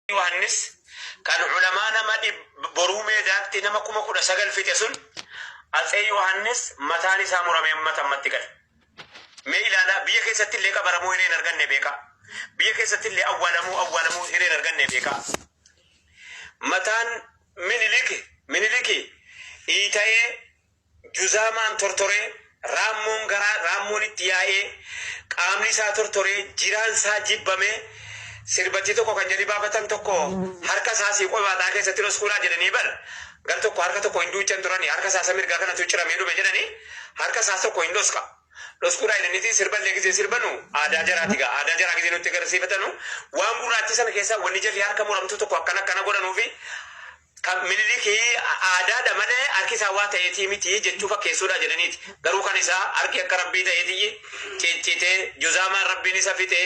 Yohaannis kan ulamaa nama boruu meedaatti nama kuma kudha sagal fixe sun Atsee Yohaannis mataan isaa murame ammata ammatti gale. Mee ilaalaa biyya keessatti illee qabaramuu hireen arganne beekaa. Biyya keessatti illee awwaalamuu awwaalamuu hireen arganne beekaa. Mataan miniliki miniliki iitayee Juzaamaan tortoree, raammoon garaa raammoon itti yaa'ee, qaamni isaa tortoree, jiraan isaa jibbamee, sirbattii tokko kan jarri baafatan tokko harka isaa asii qobaaxaa keessatti dhoskuudhaa jedhanii bar gar tokko harka tokko hin duuchan turani harka isaa isa mirgaa kanatu ciramee dhume jedhani harka isaas tokko hin dhoska dhoskuudhaa jedhaniiti sirba illee gisee sirbanu aadaa jaraati gaa aadaa jaraa gisee nutti agarsiifatanu waan gurraachii sana keessaa wanni jarri harka muramtuu tokko akkana akkana godhanuufi Kan Minilik aadaadha malee harki isaa waa ta'eetii miti jechuu fakkeessuudha jedhaniiti. Garuu kan isaa harki akka Rabbii ta'eetiyyi ciccite, juzaamaan Rabbiin isa fixe.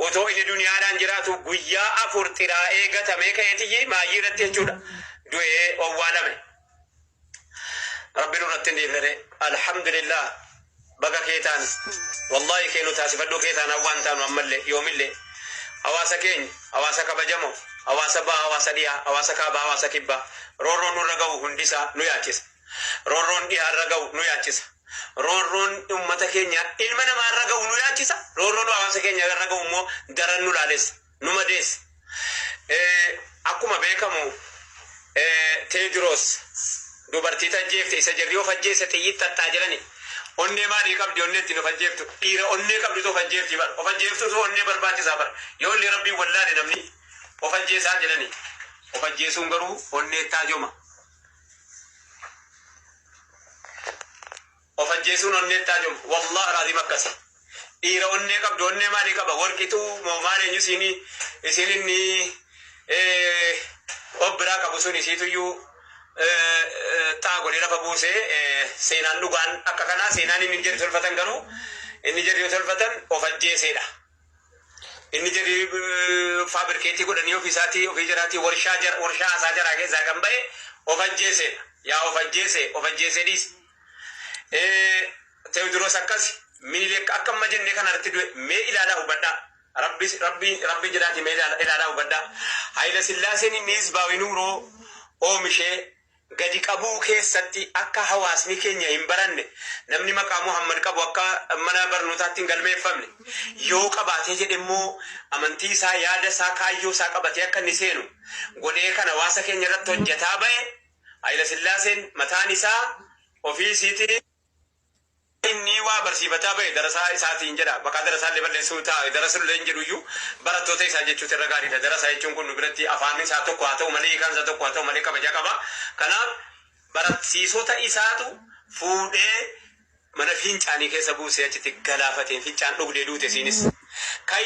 Otoo inni duniyaadhaan jiraatu guyyaa afur xiraa'ee gatamee ka'eetiyyi maayyii irratti jechuudha du'ee owwaalame. Rabbi nurratti hin dhiifne ree. Alhamdulillah baga kee taane. Wallahi kee nu taasifadhuu kee taanaan waan taanu ammallee yoomillee. Hawaasa keenya, hawaasa kabajamoo, hawaasa baha, hawaasa dhihaa, hawaasa kaabaa, hawaasa kibbaa roorroon nurra gahu hundisaa nu yaachisa. Roorroon dhihaarra gahu nu yaachisa. Roorroon ummata keenya ilma namaarra gahu nu yaachisa. Roorroon hawaasa keenya irra gahu immoo daran nu laalessa. nu madeessa. Akkuma beekamu Teediroos dubartiitu ajjeefte isa jarri of ajjeese xiyyit xaxxaa jedhani onnee maalii qabdi onnee ittiin of ajjeeftu dhiira onnee qabdutu of ajjeefti bar of ajjeeftutu onnee barbaachisaa bar yoo illee rabbiin wallaale namni of ajjeesaa jedhani of ajjeesuun garuu onnee taajoma. Of ajjeesuun onneetti haa cufu. Wallah alazim akkasi. Dhiira onnee qabdu onnee maalii qaba worqitu moo maal eenyu isiini isiin inni of biraa qabu sun isiituyyuu xaa godhee lafa buuse seenaan dhugaan akka kanaa seenaan inni jedhu tolfatan garuu inni jedhu yoo tolfatan of ajjeeseedha. Inni jedhu faabirkeetii godhanii ofii isaatii ofii jiraatii warshaa warshaa haasaa jaraa keessaa kan ba'e of ajjeeseedha. Yaa of ajjeese of ajjeese dhiisi. Teewodiroos akkasi, Minilik akka amma jenne kanarratti du'e. Mee ilaalaa hubadhaa. Rabbi, Rabbi, Rabbi jedhaatii mee ilaala, ilaalaa hubadhaa. Hayila Sillaaseen inni Hizbaawi Nuuroo oomishee gadi qabuu keessatti akka hawaasni keenya hin baranne, namni maqaa Muhammad qabu akka mana barnootaatti hin galmeeffamne, yoo qabaatee jedhe immoo amantii isaa, yaada isaa, kaayyoo isaa qabatee akka inni seenu godhee kan hawaasa keenya irratti hojjetaa ba'e Hayilasillaaseen mataan isaa ofii isiitii innii waa barsiifataa bahe darasaa isaatiin jedha. Maqaa darasaallee balleessuu ta'a. Darasullee hin jedhuyyuu barattoota isaa jechuutu irra gaariidha. Darasa jechuun kun nu biratti afaan isaa tokko haa ta'u malee hiikaan isaa tokko haa ta'u malee kabaja qaba. Kanaaf baratssiisota isaatu fuudhee mana fiincaanii keessa buusee achitti galaafate. Fincaan dhugdee duute isiinis. Kan.